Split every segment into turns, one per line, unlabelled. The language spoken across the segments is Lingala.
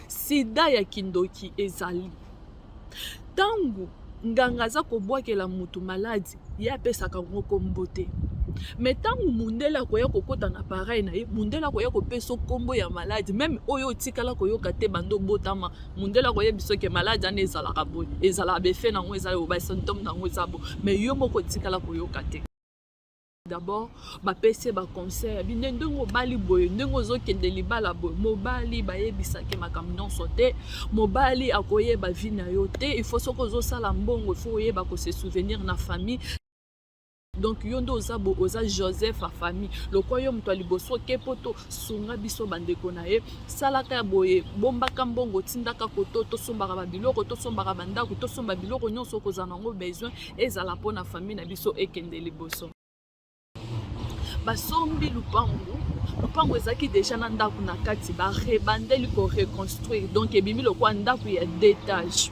sida ya kindoki ezali ntango nganga aza kobwakela motu maladi ye apesaka yango nkombo te me ntango mondele akoya kokɔta na pareil na ye mondele akoya kopesa nkombo ya maladi meme oyo otikala koyoka te bando obotama mondele akoyebisa oke maladi ana ezalaka boye ezalaka befe na yango eza obasymptome na yango eza bo me yo moko otikala koyoka te d'abord bapesi ye baconseil abi nde ndenge obali boye ndenge ozokende libala boye mobali bayebisaki makambo nyonso te mobali akoyeba vi na yo te il faut soki ozosala mbongo il faut oyeba kose souvenir na famille donc yo nde oza bo oza joseph ya famille lokola yo moto ya liboso oke poto sunga biso bandeko na ye salaka ya boye bombaka mbongo otindaka koto tosombaka babiloko tosombaka bandako tosomba biloko nyonso okozala nango besoin ezala mpo na fami na biso ekende liboso basombi lupangu lupangu ezalaki deja na ndako na kati barebandeli koreconstruire donc ebimi lokola ndako ya detage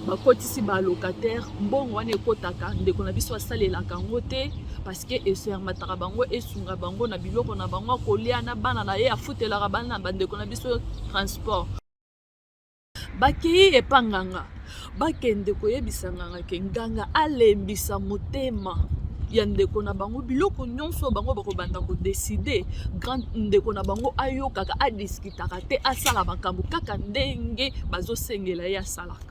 bakotisi balocataire mbongo wana ekotaka ndeko na biso asalelaka yango te parceke esermataka bango esunga bango na biloko na bango akolia na bana na ye afutelaka bana bandeko na biso transport bakei epa nganga bakende koyebisa nganga ke nganga alembisa motema ya ndeko na bango biloko nyonso bango bakobanda kodeside grand ndeko na bango ayokaka adiskitaka te asala makambo kaka ndenge bazosengela ye asalaka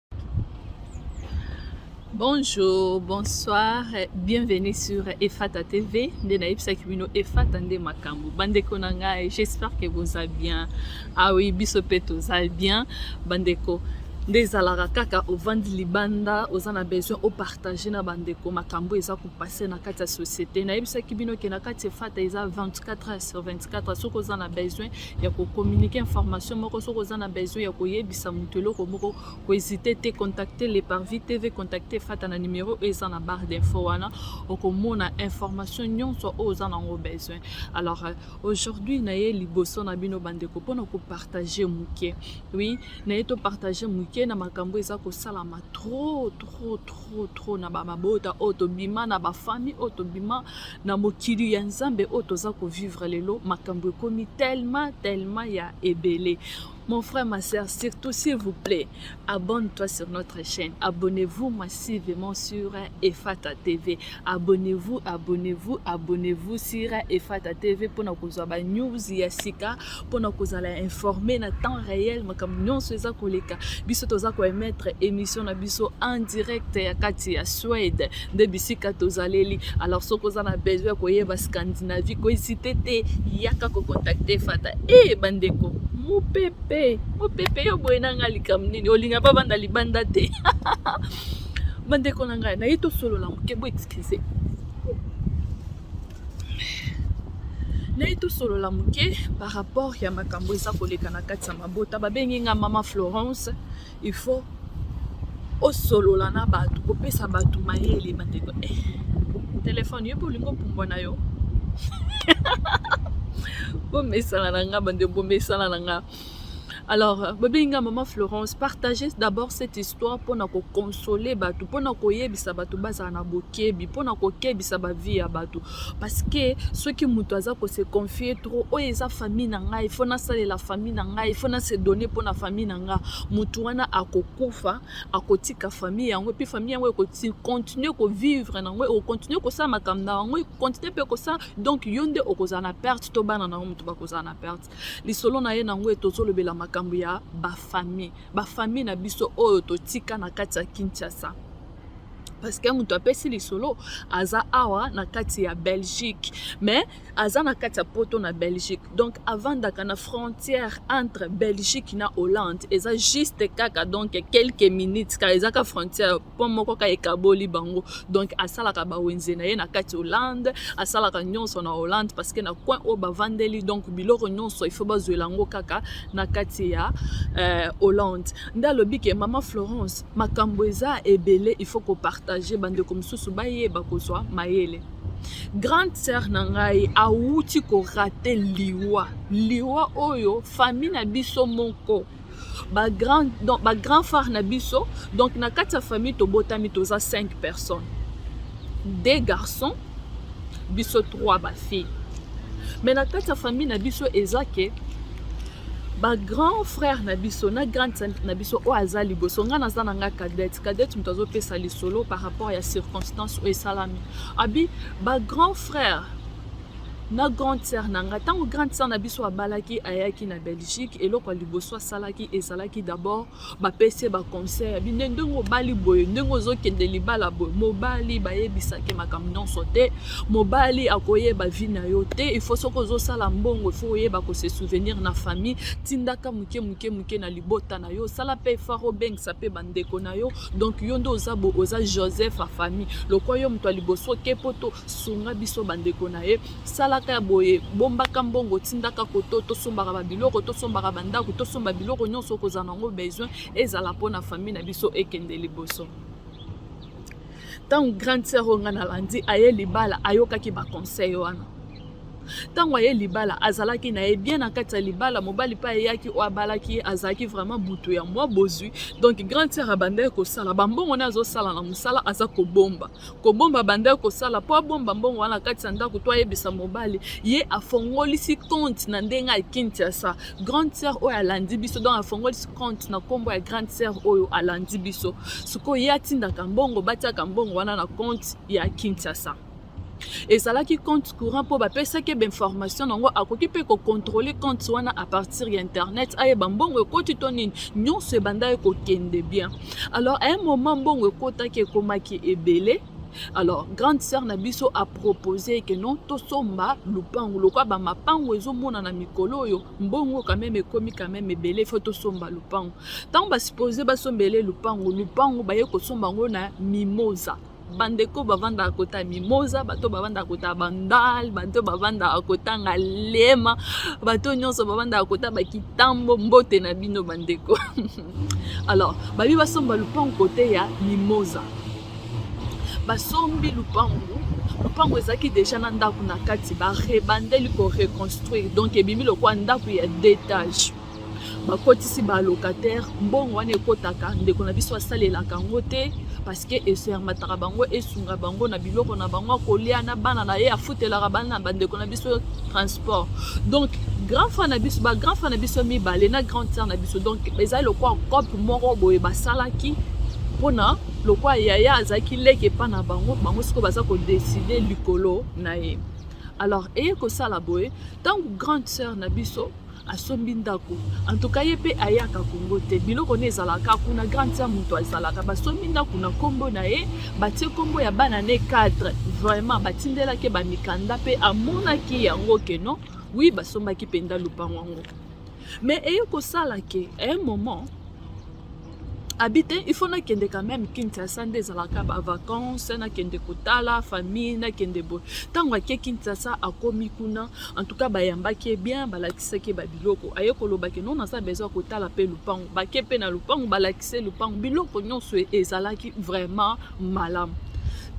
Bonjour, bonsoir, bienvenue sur Efata TV. Nde nayebisaki bino Efata nde makambo. Bandeko na ngai, j'espère que boza bien. Ah oui, biso pe toza bien. Bandeko, nde ezalaka kaka ovandi libanda oza na besoin opartage na bandeko makambo eza kopase na kati ya société nayebisaki bino ke na kati efata eza 24 heures sur 24 soki oza na besoin ya ko communiquer information moko soki oza na besoin ya koyebisa moto eloko moko kohésite te contacte le parvis tv contacte fata na numero oyo eza na barre d'info wana okomona information nyonso oyo oza nango besoin alors euh, aujourd'hui naye liboso na bino bandeko mpona kopartage moke oui naye topartage moke na makambo eza kosalama trop trop trop trop trop na bamabota oyo tobima na bafamille oyo tobima na mokili ya nzambe oyo toza kovivre lelo makambo ekomi tellement tellement ya ebele Mon frère, ma soeur, surtout s'il vous plaît, abonne-toi sur notre chaîne. Abonnez-vous massivement sur Efata TV. Abonnez-vous, abonnez-vous, abonnez-vous sur Efata TV pour nous avoir news yasika. pona kozala informe na temps réel makambo nyonso eza koleka biso toza koemettre émission na biso en direct ya kati ya Suède nde bisika tozaleli alors soki oza na besoin ya koyeba Scandinavie koesite te yaka kocontacte fata e eh, bandeko mopepe mopepe yo boye na ngai likambo nini olinga bavanda libanda te bandeko na ngai naye tosolola moke bo excuse naye tosolola moke par rapport ya makambo eza koleka na kati ya mabota babengi nga mama florence il faut osolola na bato kopesa bato mayele bandeko eh, telefone yo mpe olingi opumbwa na yo bomesana na nga bande bomesana na nga Alors, Bobinga, Maman Florence, partagez d'abord cette histoire pour nous consoler, pour nous koyebisa batu bazala na bokebi, pour nous kokebisa ba vie ya batu. Parce que ceux qui mutu aza ko se confier trop, oh eza famille na ngai, faut na sale la famille na ngai, faut na se donner pour na famille na ngai. Mutu wana akokufa, akotika famille yango, puis famille yango ko continuer ko vivre na yango, continuer ko sa makambo na yango, continuer pe ko sa donc yonde okozana perte to bana na mutu bakozana perte. lisolo na ye nango ete ozolobela makambo ya bafamille bafamille na biso oyo totika na kati ya kinshasa parceke moto apesi lisolo aza awa na kati ya belgique mais aza na kati ya poto na belgique donc avandaka na frontière entre belgique na hollande eza juste kaka donc quelques minutes kaka eza ka frontière pont moko ka ekaboli bango donc asalaka bawenze na ye na kati hollande asalaka nyonso na hollande parce que na coin oyo bavandeli donc biloko nyonso ifo bazwela yango kaka na kati ya euh, hollande nde alobi ke mama florence makambo eza ebele ifo kopartage bandeko mosusu bayeba kozwa mayele grande sœur na ngai awuti korate liwa liwa oyo fami na biso moko ba grand donc ba grand phare na biso donc na kati ya famille tobotami toza 5 personnes deux garçons biso trois ba filles mais na kati ya famille na biso eza ke ba grand frère na biso na grande sœur na biso oyo aza liboso ngai naza na ngai cadette cadette moto azopesa lisolo par rapport ya circonstance oyo esalami abi ba grand frère na grande sœur na nga ntango grande sœur na biso abalaki ayaki na belgique eloko ya liboso asalaki ezalaki d'abord bapesi ye baconseil ya bine ndenge obali boye ndenge ozokende libala boye mobali bayebisaki makambo nyonso te mobali akoyeba vi na yo te ifo soki ozosala mbongo ifo oyeba kose souvenir na famille tindaka moke moke moke na libota na yo sala mpe efar obengisa mpe bandeko na yo donc yo nde oza bo oza joseph ya famille lokola yo moto ya liboso oke poto sunga biso bandeko na ye salaka ya boye bombaka mbongo tindaka koto tosombaka babiloko tosombaka bandako tosomba biloko nyonso okozala na yango besoin ezala mpona famille na biso ekende liboso ntango grande sœur oyo ngai nalandi aye libala ayokaki baconseil wana ntango aye libala azalaki na ye bien na kati ya libala mobali mpe ayeyaki oyo abalaki ye azalaki vraiment butu ya mwa bozwi donc grande sœur abandaki kosala bambongo nde azosala na mosala aza kobomba kobomba abandaki kosala mpo abomba mbongo wana kati ya ndako to ayebisa mobali ye afongolisi compte na ndenge ya kinshasa grande sœur oyo alandi biso donc afongolisi compte na nkombo ya grande sœur oyo alandi biso sikoyo ye atindaka mbongo batiaka mbongo wana na compte ya kinshasa ezalaki compte courant mpo bapesaki ebe information na yango akoki mpe kocontrole compte wana a partir ya internet ayeba mbongo ekoti to nini nyonso ebandaki kokende bien alors à un moment mbongo ekotaki ekomaki ebele alors grande sœur na biso apropose ke non tosomba lupangu lokwa bamapangu ezomonana mikolo oyo mbongo quand même ekomi quand même ebele fo tosomba lupangu ntango basuppose basombele lupangu lupangu baye kosomba yango na mimosa bandeko bavandaka kota mimoza bato bavandaka kota bandal bato bavandaka kota ngalema bato nyonso bavandaka kota bakitambo mbote na bino bandeko alors babi basomba lupango kote ya mimoza basombi lupango lupango ezalaki deja na ndako na kati barebandeli koreconstruire donc ebimi lokola ndako ya detage bakotisi ba locataire mbongo wana ekotaka ndeko na biso asalelaka yango te parceke esermataka bango esunga bango na biloko na bango akolia na bana na ye afutelaka bana na bandeko na biso transport donc grand frère na biso bagrand frère na biso mibale na grande sœur na biso donc ezali lokola cope moko boye basalaki mpona lokola yaya azalaki leki epai na bango bango sikoyo baza kodeside likolo na ye alors eye kosala boye ntango grande sœur na biso asombi ndako antuka ye mpe ayaka kongo te biloko ne ezalaka kuna grande sœur moto azalaka basombi ndako na nkombo na ye batie nkombo ya bana ne cadre vraiment batindelaki bamikanda mpe amonaki yango keno wi basombaki mpenza lopango yango mais eye kosala ke un moment abi te il faut nakende quand même kinshasa nde ezalaka ba vacances nakende kotala famille nakende boye ntango ake kinshasa akomi kuna en tout cas bayambaki ye bien balakisaki ye babiloko aye kolobaki non naza besoin kotala mpe lupangu bake mpe na lupangu balakise lupangu biloko nyonso ezalaki vraiment malamu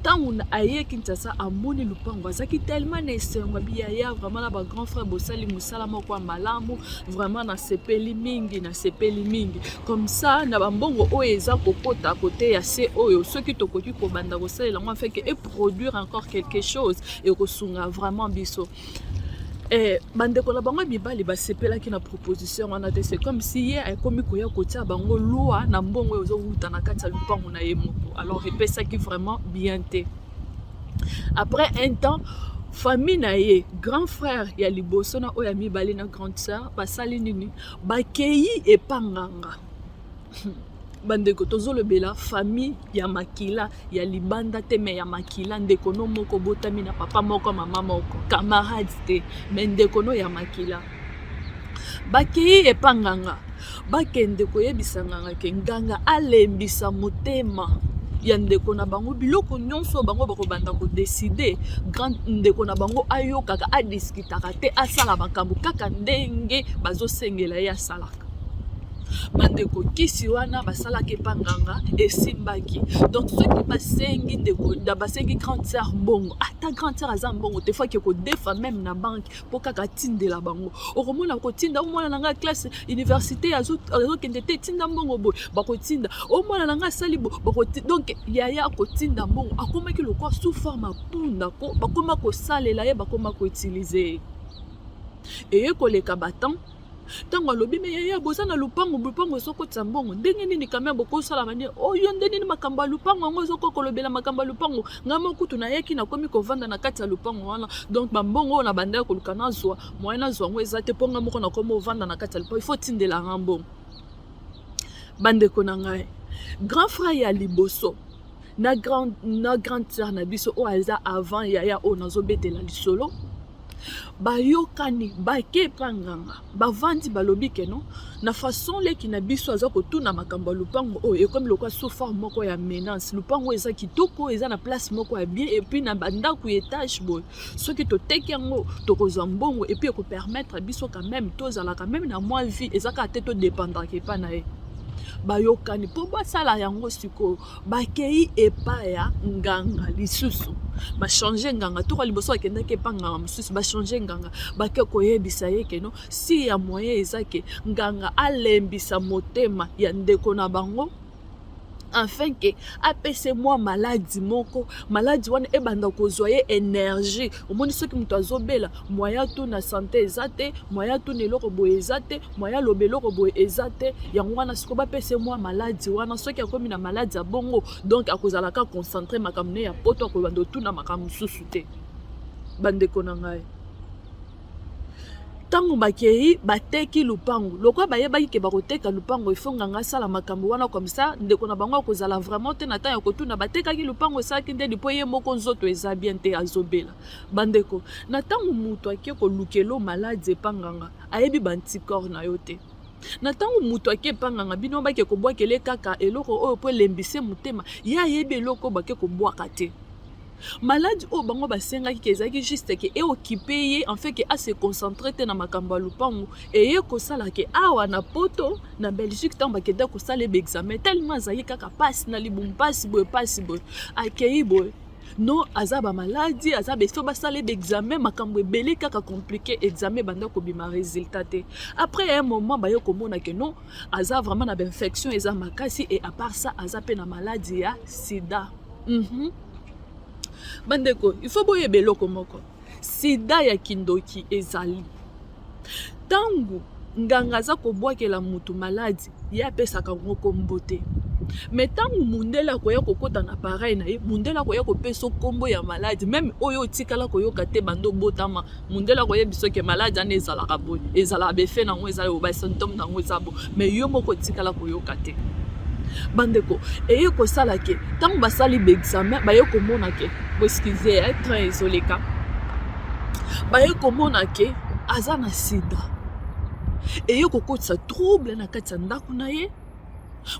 ntango aye kinshasa amoni lupango azalaki telema na esengo abi yaya vraiment na ba grand frère bosali mosala moko ya malamu vraiment nasepeli mingi nasepeli mingi comme ça na bambongo oyo eza kokota kote ya se oyo soki tokoki kobanda kosalela yango afeke eproduire encore quelque chose ekosunga vraiment biso Eh, bandeko na bango ya mibali basepelaki na proposition wana te c'est comme si ye akomi koya kotia bango lwa na mbongo oyo ozowuta na kati ya lopango na ye moko alors epesaki vraiment bien te après un temps famille na ye grand frère ya liboso na oyo ya mibale na grande sœur basali nini bakei epanganga bandeko tozolobela famille ya makila ya libanda te me ya makila ndeko no moko botami na papa moko mama moko camarade te me ndeko no ya makila bakei epa nganga bakende koyebisa nganga ke nganga alembisa motema ya ndeko na bango biloko nyonso bango bakobanda kodeside grand ndeko na bango ayokaka adiskitaka te asala makambo kaka ndenge bazosengela ye asala bandeko kisi wana basalaki epa nganga esimbaki donc soki basengi ndeko da basengi grande sœur mbongo ata ah, grande sœur aza mbongo te faki kodefa meme na banke mpo kaka atindela bango okomona kotinda omwana na ngai classe université azokende te tinda mbongo boye bakotinda omwana na ngai asali bo donc yaya akotinda mbongo akomaki lokwa sous forme apunda ko bakoma kosalela ye bakoma koutilize ye eye koleka batemp ntango alobi me yaya boza na lupango lupango ezokotisa mbongo ndenge nini kame bokosala bande oyo oh, nde nini makambo ya lupango yango ezokoki kolobela makambo ya lupango ngai mokutu nayaki nakomi kovanda na kati ya lupango wana donc bambongo oyo na bandaki koluka nazwa moye nazwa yango eza te mpo ngai moko nakomi ovanda na kati ya lupango ifo tindela ngai mbongo bandeko na ngai grand frère ya liboso na grande, na grande sœur na biso oyo aza avant yaya oyo nazobetela lisolo bayokani bake epa nganga bavandi balobi keno na façon leki na biso aza kotuna makambo ya lopango oyo ekomi lokwa soufar moko ya menace lopango oyo eza kitoko eza na place moko ya bien epuis na bandako ya etage boye soki toteki yango tokozwa mbongo epuis ekopermettre biso quand même tozalaka meme na mwa vie eza kaka te todependaka epai na ye bayokani mpo basala yango sikoyo bakei epai ya nganga lisusu bachange nganga toka liboso akendaki epa nganga mosusu bachange nganga bake koyebisa ye keno si ya moyen eza ke nganga alembisa motema ya ndeko na bango afin ke apese mwa maladi moko maladi wana ebanda kozwa ye energie omoni soki moto azobela mwaya tu na sante eza te mwaya tu na eloko boye eza te mwaya loba eloko boye eza te yango wana siko bapese mwa maladi wana soki akomi na maladi ya bongo donk akozala ka concentre makambo ne ya poto akobanda otuna makambo mosusu te bandeko na ngai ntango bakei bateki lupango lokola bayebaki ke bakoteka lupango ifo nganga asala makambo wana komsa ndeko na bango akozala vraiment te na ntango ya kotuna batekaki lupango esalaki nde lipo ye moko nzoto eza bien te azobela bandeko na ntango moto ake kolukelo maladi epa nganga ayebi banticorps na yo te na ntango moto ake epa nganga bino bake kobwakele kaka eloko oyo mpo elembise motema ye ayebi eloko bake kobwaka te Malade oyo bango basengaki ke ezalaki juste ke eokipe ye en fait ke ase concentre te na makambo ya lopango eye kosala ke awa na poto na belgique ntango bakenda kosala ye baexamen tellement azalaki kaka mpasi na libumu mpasi boye mpasi boye akei boye no aza bamaladi aza beso basala ye baexamen makambo ebele kaka komplike examen ebanda kobima résultat te après ya un moment baye komona ke no aza vraiment na bainfection eza makasi e apart ça aza mpe na maladi ya sida mm -hmm. bandeko il faut boyeba eloko moko sida ya kindoki ezali ntango nganga aza kobwakela motu maladi ye apesaka yango kombo te me ntango mundele akoya kokɔta na pareil na ye mundele akoya kopesa nkombo ya maladi meme oyo otikala koyoka te bando obotama mundele akoyebisa oke maladi wana ezalaka boye ezalaka befe na yango ezala yo basymptome na yango eza bo mai yo moko otikala koyoka te bandeko eye kosala ke ntango basali baexamen baye komona ke boeskize ya eh, train ezoleka baye komona ke aza na sida eye kokotisa trouble na kati ya ndako na ye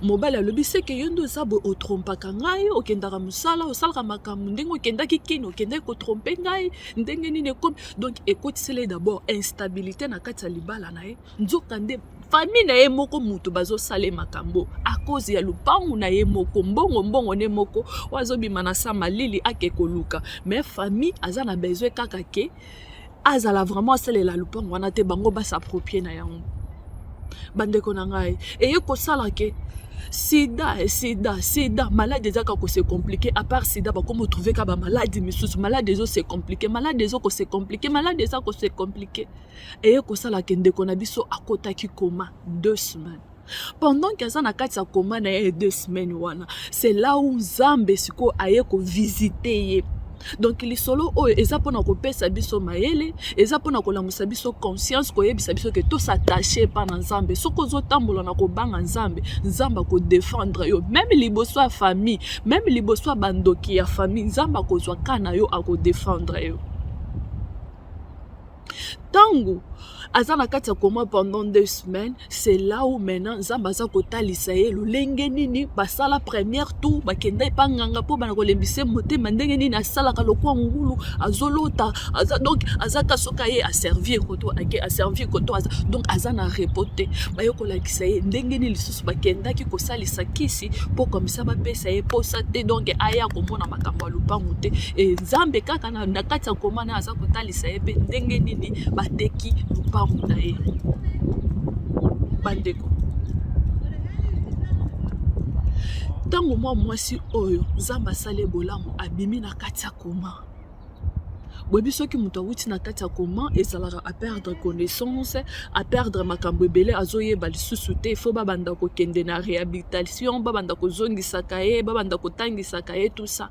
mobali alobi seke yo nde oza boye otrompaka ngai okendaka mosala osalaka makambo ndenge okendaki kini okendaki kotrompe ngai ndenge nini ekomi donc ekotisela ye dabord instabilité na kati ya libala na ye nzoka nde famille na ye moko moto bazosala ye makambo akozi ya lopangu na ye moko mbongo mbongo ne moko oyo azobima na sa malili ake koluka mais famille aza na besoin kaka ke azala vraiment asalela lopango wana te bango basaproprie na yango bandeko na ngai eye kosala ke sida eh, sida sida maladi eza kaka kose komplike apart sida bakomi otrouve ka bamaladi misusu maladi ezo se komplike maladi ezo kose komplike maladi eza kose komplike eye kosala ke ndeko na biso akotaki koma deux semaines pendant que aza na kati ya koma na ye deux semaines wana c'est là où nzambe sikoyo aye kovisite ye donc lisolo oyo eza mpona kopesa biso mayele eza mpona kolamusa biso conscience koyebisa biso ke tosatache epa na nzambe soki ozotambola na kobanga nzambe nzambe akodefendre yo meme liboso ya famille meme liboso ya bandoki ya famille nzambe akozwa ka na yo akodefendre yo ntango aza na kati ya koma pendant deux semaines c'est là où maintenant nzambe aza kotalisa ye lolenge nini basala première tour bakenda epa nganga mpo bana kolembisa motema ndenge nini asalaka lokwa ngulu azolota aza donc aza kasoka ye aservie koto ake aservie koto aza donc aza na repo te baye kolakisa ye ndenge nini lisusu bakendaki kosalisa kisi mpo komisa bapesa ye mposa te donc aya komona makambo ya lopango te e nzambe kaka na kati ya koma naye aza kotalisa ye mpe ndenge nini bateki lopango na ye bandeko ntango mwa mwasi oyo nzambe asali bolamu abimi na kati ya koma boyebi soki moto awuti na kati ya koma ezalaka aperdre connaissance aperdre makambo ebele azoyeba lisusu te fo babanda kokende na réhabilitation babanda kozongisaka ye babanda kotangisaka ye tout ça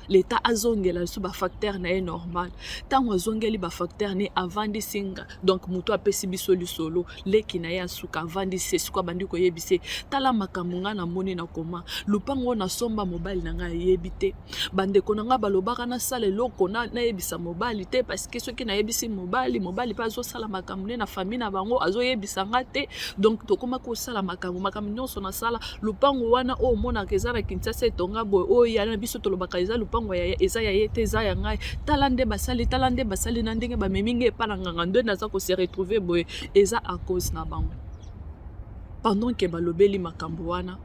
leta azongela lisusu bafacteur na ye normal ntango azongeli bafacteur ne avandisi nga donc moto apesi biso lisolo leki na ye asuka avandisi esiko abandi koyebisa ye tala makambo ngai namoni na koma lopango oyo nasomba mobali na ngai ayebi te bandeko na ngai balobaka nasala eloko nayebisa mobali te parceke soki nayebisi mobali mobali mpe azosala makambo ne na famille na bango azoyebisa ngai te donc tokoma kosala makambo makambo nyonso nasala lupango wana oyo omonaka eza na kinsasa etonga boye oyo yaya na biso tolobaka eza lupango ya eza ya ye te eza ya ngai tala nde basali tala nde basali na ndenge bamemi ngai epa na nganga nde naza ko se retrouver boye eza a cause na bango pendant ke balobeli makambo wana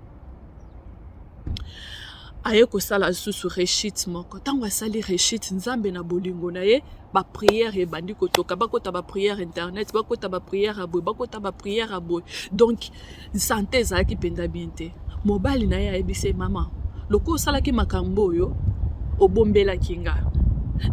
aye kosala lisusu rechite moko ntango asali rechite nzambe na bolingo na ye ba prière ebandi kotoka bakota ba prière internet bakota ba prière ya boye bakota ba prière ya boye donc sante ezalaki mpenza bien te mobali na ye ayebisi ye mama lokola osalaki makambo oyo obombelaki nga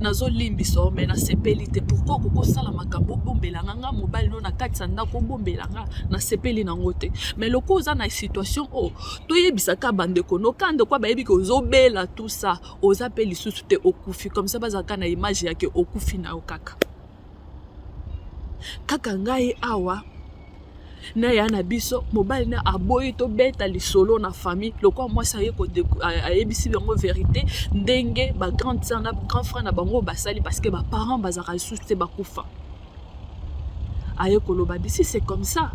nazolimbisa yo me nasepeli te pourkui okoki osala makambo obombela nga nga mobali no na kati ya ndako obombela nga nasepeli nango te me lokola oza na situation oyo toyebisaka bandeko no ka ndeko bayebi ke ozobela tout ça oza mpe lisusu te okufi comme ça bazalaka na image yake okufi na yo kaka kaka ngai awa na ya na biso mobali na aboyi tobeta lisolo na famille lokola mwasi aye ayebisi bango verité ndenge bagrande sœur na grand frère na bango basali parce que baparent bazalaka lisusu te bakufa aye koloba bisi c'est comme ça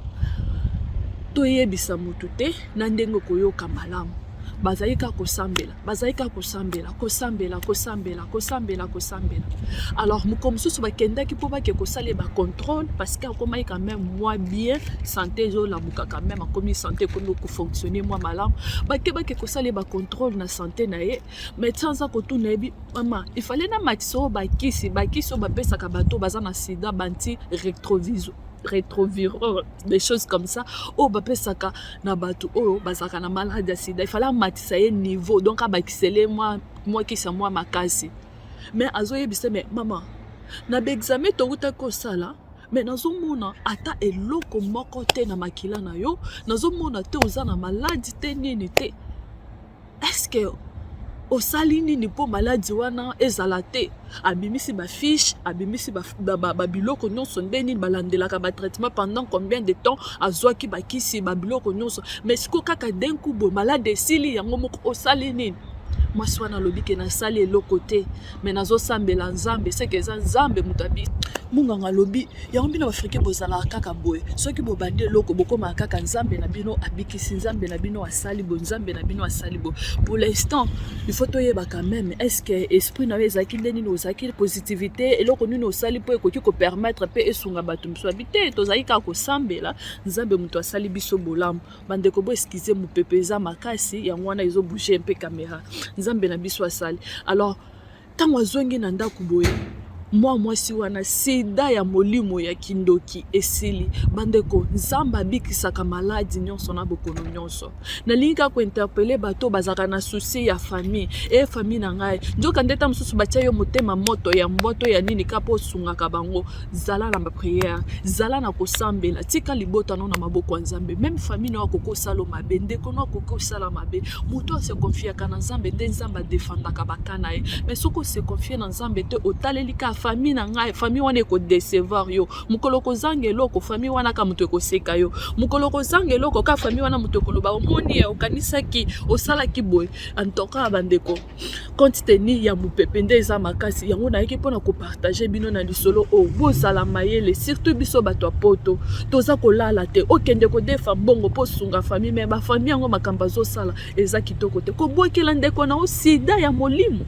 toyebisa motu te na ndenge okoyoka malamu bazali kaka kosambela bazali kaka kosambela kosambela kosambela kosambela kosambela alors moko mosusu bakendaki mpo bake kosala ye bacontrôle parce que akomaki quand même mwa bien santé ezolamuka quand même akomi santé ekomi kofonctionne mwa malamu bake bake kosala ye bacontrôle na santé na ye meti aza kotuna yebi mama efale na makisa oyo bakisi bakisi oyo bapesaka bato baza na sida banti retroviso retrovireur des choses comme ça oyo bapesaka na bato oyo bazalaka na malade ya sida efale amatisa ye niveau donc abakisele mwa mwa kisa mwa makasi mais azoyebisa me mama na baexame towutaki kosala me nazomona ata eloko moko te na makila na yo nazomona te oza na maladi te nini te eske osali nini mpo maladi wana ezala te abimisi bafiche abimisi babiloko nyonso nde nini balandelaka batraitement pendant combien de temps azwaki bakisi babiloko nyonso mais siko kaka denku boye maladi esili yango moko osali nini mwasi wana alobi ke nasali eloko te me nazosambela nzambe seke eza nzambe moto abi munganga alobi yango bino africain bozalaka kaka boye soki bobandi eloko bokomaka kaka nzambe na bino abikisi nzambe na bino asali bo nzambe na bino asali bo pour l'instant il faut toyeba quand même est ce que esprit na yo ezalaki nde nini ozalaki positivité eloko nini osali mpo ekoki kopermettre mpe esunga bato mosusu abi te tozalaki kaka kosambela nzambe moto asali biso bolamu bandeko bo eskize mopepe eza makasi yango wana ezobouge mpe kamera nzambe na biso asali alors Ntango azongi na ndako boye mwa mwasi wana sida ya molimo ya kindoki esili bandeko nzambe abikisaka maladi nyonso na bokono nyonso nalingi kaka kointerpele bato oyo bazalaka na susi ya famille e famille na ngai nzoka nde ta mosusu batya yo motema moto ya mboto ya nini kaka mpo osungaka bango zala na bapriere zala na kosambela tika libota no na maboko ya nzambe meme famille no akokosalo mabe ndeko no akokosala mabe moto ase konfiaka na nzambe nde nzambe adefandaka baka na ye mais soki ose konfie na nzambe te otaleli ka famille na ngai famille wana ekodecevoir yo mokolo kozanga eloko famille wana ka moto ekoseka yo mokolo kozanga eloko ka famille wana moto ekoloba omoni ye okanisaki osalaki boye antokaka bandeko compte tenu ya mopepe nde eza makasi yango nayaki mpona kopartage bino na lisolo oyo bozala mayele surtout biso bato ya poto toza kolala te okende kodefa mbongo mpo osunga famille me bafamille yango makambo azosala eza kitoko te kobwakela ndeko na yo sida ya molimo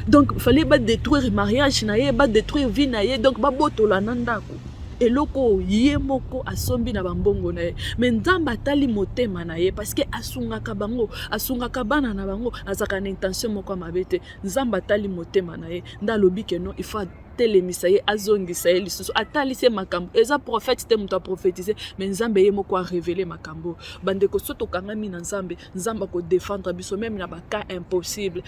donc fallait badétruire mariage na ye badétruire vie na ye donc babotola na ndako eloko oyo ye moko asombi na bambongo na ye me nzambe atali motema na ye parceke asungaka bango asungaka bana na bango azalaka na intention moko ya mabe te nzambe atali motema na ye nde alobi keno ifa atelemisa ye azongisa ye lisusu atalisi ye makambo eza profete te moto aprofetize me nzambe ye moko arevele makambo bandeko so tokangami na nzambe nzambe akodefendre biso meme na bacas impossible